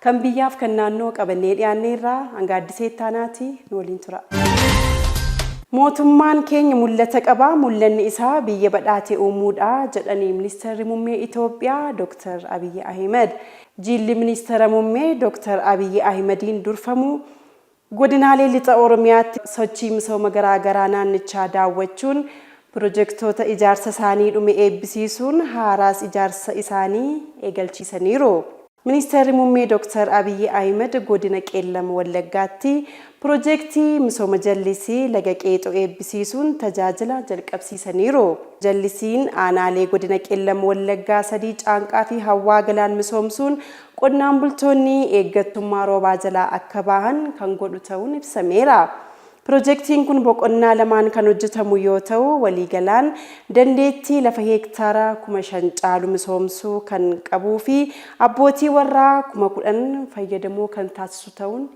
Kan biyyaaf kan naannoo qabannee dhiyaanneerra, hanga Addisee Ittaanaati nu waliin turaa. Mootummaan keenya mul'ata qaba, mul'anni isaa biyya badhaate uumuudha jedhani Ministarri Mummee Itoophiyaa Dooktar Abiyyi Ahimad. Jiilli Ministara Mummee Dooktar Abiyyi Ahimadiin durfamu Godinaalee Lixa Oromiyaatti sochii misooma garaa garaa naannichaa daawwachuun pirojektoota ijaarsa isaanii dhume eebbisiisuun haaraas ijaarsa isaanii eegalchiisaniiru. Ministeerri Muummee Dooktar Abiyyi Ahimad Godina Qeellam Wallaggaatti Pirojektii misooma jallisii Laga Qeexoo eebbisiisuun tajaajila jalqabsiisaniiru. Jallisiin aanaalee Godina Qeellam Wallaggaa sadii Caanqaa fi Hawwaa Galaan misoomsuun Qonnaan bultoonni eeggattummaa roobaa jalaa akka bahan kan godhu ta'uun ibsameera. Pirojektiin kun boqonnaa lamaan kan hojjetamu yoo ta'u, waliigalaan dandeettii lafa heektaara kuma shan caalu misoomsuu kan qabuufi abbootii warraa kuma kudhan fayyadamoo kan taasisu ta'uun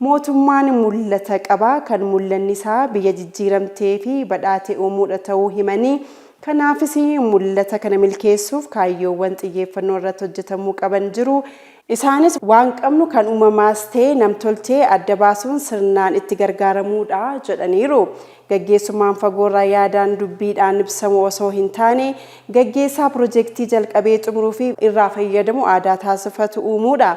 Mootummaan mul'ata qaba, kan mul'anni isaa biyya jijjiiramtee fi badhaate uumuudha ta'uu himanii, kanaafis mul'ata kana milkeessuuf kaayyoowwan xiyyeeffannoo irratti hojjetamuu qaban jiru. Isaanis waan qabnu kan uumamaas ta'e nam-tolchee adda baasuun sirnaan itti gargaaramuudha jedhaniiru. Gaggeessummaan fagoorraa yaadaan, dubbiidhaan ibsamu osoo hin taane, gaggeessaa pirojektii jalqabee xumuruu fi irraa fayyadamu aadaa taasifatu uumuudha.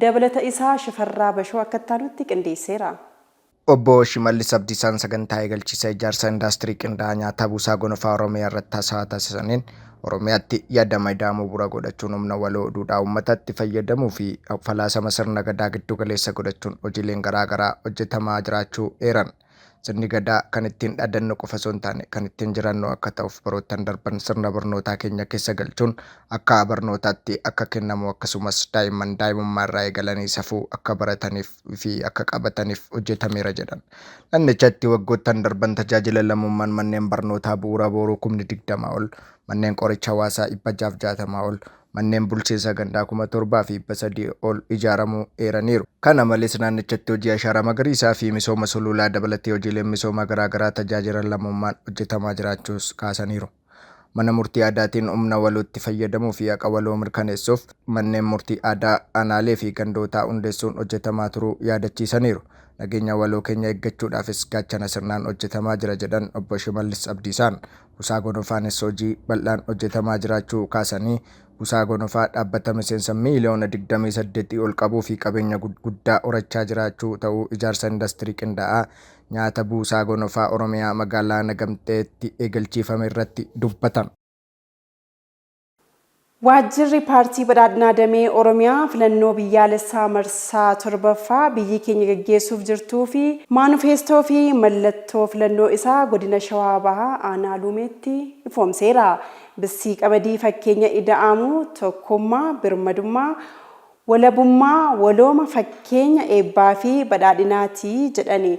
Dabalata isaa Shifarraa Bashoo akka itti aanutti qindeesseera. Obbo Shimallis Abdiisaan sagantaa eegalchiisa ijaarsa indaastirii qindaa'aa nyaataa Buusaa Gonofaa Oromiyaa irratti hasawa taasisaniin, Oromiyaatti yadama ida'amuu bu'ura godhachuun humna waloo duudhaa uummataatti fayyadamuu fi falaasama sirna Gadaa giddu galeessa godhachuun hojiileen garaa garaa hojjetamaa jiraachuu eeran. Sirni Gadaa kan ittiin dhaadannu qofa osoo hin taane kan ittiin jiraannu akka ta'uuf baroottan darban sirna barnootaa keenya keessa galchuun akka barnootaatti akka kennamu akkasumas daa'imman daa'imummaa irraa eegalanii safuu akka barataniif fi akka qabataniif hojjetameera jedhan. Nannichatti waggoottan darban tajaajila lammummaan manneen barnootaa bu'uuraa booruu kumni 20 ol, manneen qoricha hawaasaa 660 ol, manneen bulchiinsa gandhaa 7,300 ol ijaaramuu eeraniiru. Kana malees naannichatti hojii ashaaraa magariisaa fi misooma suluulaa dabalatee hojiileen misoomaa garaa garaa tajaajila lammummaan hojjetamaa jiraachuus kaasaniiru. Mana murtii aadaatiin humna walootti fayyadamuu fi haqa waloo mirkaneessuuf manneen murtii aadaa aanaalee fi gandootaa hundeessuun hojjetamaa turuu yaadachiisaniiru. Nageenya waloo keenya eeggachuudhaafis gaachana sirnaan hojjetamaa jira jedhan Obbo Shimallis Abdiisaan. Busaa Gonofaanis hojii bal'aan hojjetamaa jiraachuu kaasanii, Busaa Gonofaa dhaabbata miseensa miiliyoona 28 ol qabuu fi qabeenya guddaa horachaa jiraachuu ta'uu ijaarsa indastirii qindaa'aa nyaata Buusaa Gonofaa Oromiyaa magaalaa Nagamteetti eegalchiifame irratti dubbatan. Waajjirri Paartii Badhaadhinaa Damee Oromiyaa filannoo biyyaalessaa marsaa 7ffaa biyyi keenya gaggeessuuf jirtuu fi maanufeestoo fi mallattoo filannoo isaa Godina Shawaa Bahaa Aanaa Luumeetti ifoomseera. Bissii Qamadii fakkeenya Ida'amuu, tokkummaa, birmadummaa, walabummaa, walooma fakkeenya eebbaa fi badhaadhinaa ti jedhani.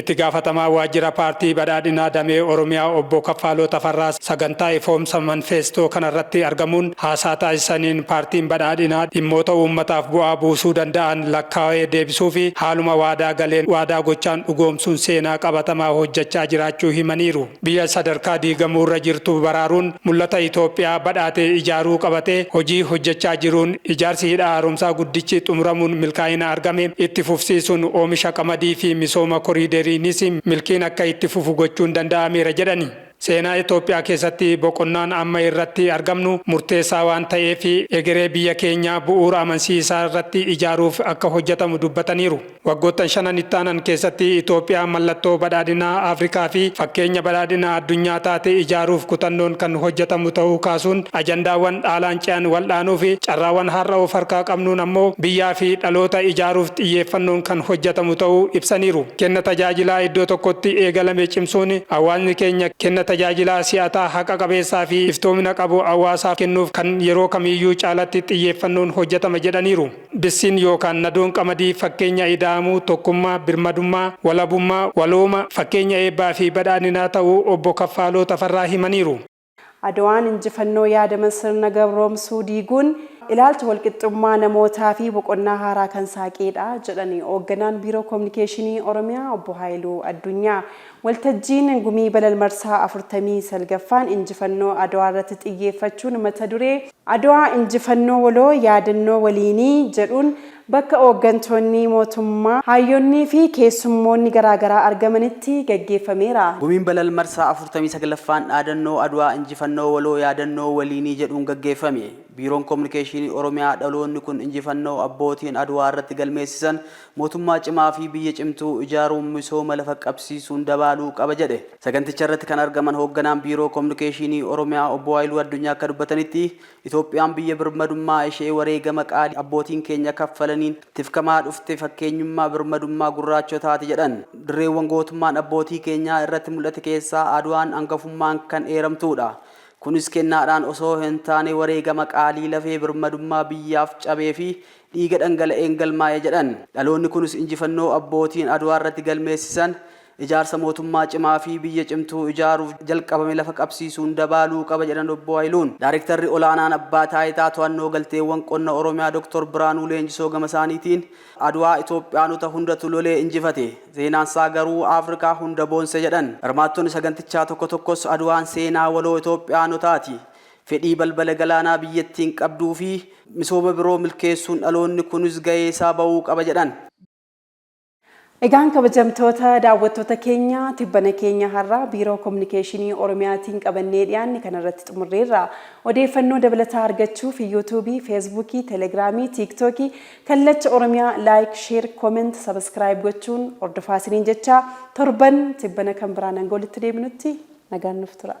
Itti gaafatamaa waajjira paartii Badhaadhinaa damee Oromiyaa obbo Kaffaaloo Tafarraa sagantaa ifoomsa manfeestoo kanarratti argamuun haasaa taasisaniin paartiin Badhaadhinaa dhimmoota uummataaf bu'aa buusuu danda'an lakkaawee deebisuufi haaluma waadaa galeen waadaa gochaan dhugoomsuun seenaa qabatamaa hojjechaa jiraachuu himaniiru. Biyya sadarkaa diigamuu irra jirtu baraaruun mul'ata Itoophiyaa badhaate ijaaruu qabatee hojii hojjechaa jiruun ijaarsi Hidha Haaromsaa Guddichi xumuramuun milkaa'ina argame itti fufsiisuun oomisha qamadii fi misooma koriideriinis milkiin akka itti fufu gochuun danda'ameera jedhani. Seenaa Itoophiyaa keessatti boqonnaan amma irratti argamnu murteessaa waan ta'eef egeree biyya keenyaa bu'uura amansiisaa irratti ijaaruuf akka hojjetamu dubbataniiru. Waggoottan shanan ittaanan keessatti Itoophiyaa mallattoo badhaadhinaa Afrikaa fi fakkeenya badhaadhina addunyaa taate ijaaruuf kutannoon kan hojjetamu ta'uu kaasuun, ajandaawwan dhaalaan ce'an wal'aanuu fi carraawwan har'a of harkaa qabnuun ammoo biyyaa fi dhaloota ijaaruuf xiyyeeffannoon kan hojjetamu ta'uu ibsaniiru. Kenna tajaajilaa iddoo tokkotti eegalame cimsuun hawaasni keenya kenna tajaajilaa si'ataa, haqa qabeessaa fi iftoomina qabu hawaasaaf kennuuf kan yeroo kamiiyyuu caalatti xiyyeeffannoon hojjetama jedhaniiru. Bissiin yookaan nadoon qamadii fakkeenya ida'amuu, tokkummaa, birmadummaa, walabummaa, walooma, fakkeenya eebbaa fi badhaadhinaa ta'uu Obbo Kaffaaloo Tafarraa himaniiru. Adwaan injifannoo yaadama sirna gabroomsuu diiguun ilaalcha walqixxummaa namootaa fi boqonnaa haaraa kan saaqeedha jedhan Hoogganaan Biiroo Kominikeeshinii Oromiyaa Obbo Haayiluu Addunyaa. Waltajjiin Gumii Balal marsaa 49ffaan Injifannoo Adwaarratti xiyyeeffachuun mata duree, Adwaa Injifannoo Waloo, Yaadannoo Waliinii jedhuun bakka ooggantoonni mootummaa, haayyoonniifi keessummoonni garaagaraa argamanitti gaggeeffameera. Gumiin Balal marsaa 49ffaan dhaadannoo Adwaa Injifannoo Waloo, Yaadannoo Waliinii jedhuun gaggeeffame. Biiroon Kominikeeshiinii Oromiyaa dhaloonni kun injifannoo abbootiin Adwaarratti galmeessisan Mootummaa cimaa fi biyya cimtuu ijaaruun misooma lafa qabsiisuun dabaaluu qaba jedhe. Saganticha irratti kan argaman hoogganaan Biiroo Komunikeeshiinii Oromiyaa Obbo Haayiluu Addunyaa akka dubbatanitti, Itoophiyaan biyya birmadummaa ishee wareegama qaalii abbootiin keenya kaffalaniin tifkamaa dhufte fakkeenyummaa birmadummaa gurraachotaati jedhan. Dirreewwan gootummaan abbootii keenyaa irratti mul'ate keessaa Adwaan angafummaan kan eeramtuudha. Kunis kennaadhaan osoo hintaane wareegama qaalii lafee birmadummaa biyyaaf cabee fi dhiiga dhangala'een galmaa'e jedhan. Dhaloonni kunis injifannoo abbootiin Adwaarratti galmeessisan ijaarsa mootummaa cimaa fi biyya cimtuu ijaaruuf jalqabame lafa qabsiisuun dabaaluu qaba jedhan Obbo Hayiluun. Daarektarri Olaanaan Abbaa Taayitaa To'annoo Galteewwan Qonna Oromiyaa Doktor Biraanuu Leenjisoo gamasaaniitiin, Adwaa Itoophiyaanota hundatu lolee injifate. Seenaansaa garuu Afrikaa hunda boonse jedhan. Hirmaattonni sagantichaa tokko tokkos Adwaan seenaa waloo Itoophiyaanotaati. Fedhii balbala galaanaa biyyattiin qabduu fi misooma biroo milkeessuun dhaloonni kunis gahee isaa bahuu qaba jedhan. Egaan kabajamtoota daawwattoota keenya tibbana keenya har'aa Biiroo Kominikeeshinii Oromiyaatiin qabannee dhiyaanne kana irratti xumurreerra. Odeeffannoo dabalataa argachuuf Yuutuubii, Feesbuukii, Telegiraamii, Tiiktookii, Kallacha Oromiyaa Like, Share, Comment, Subscribe gochuun hordofaa isiniin jechaa torban tibbana kan biraan hanga walitti deebinutti nagaan nuuf turaa.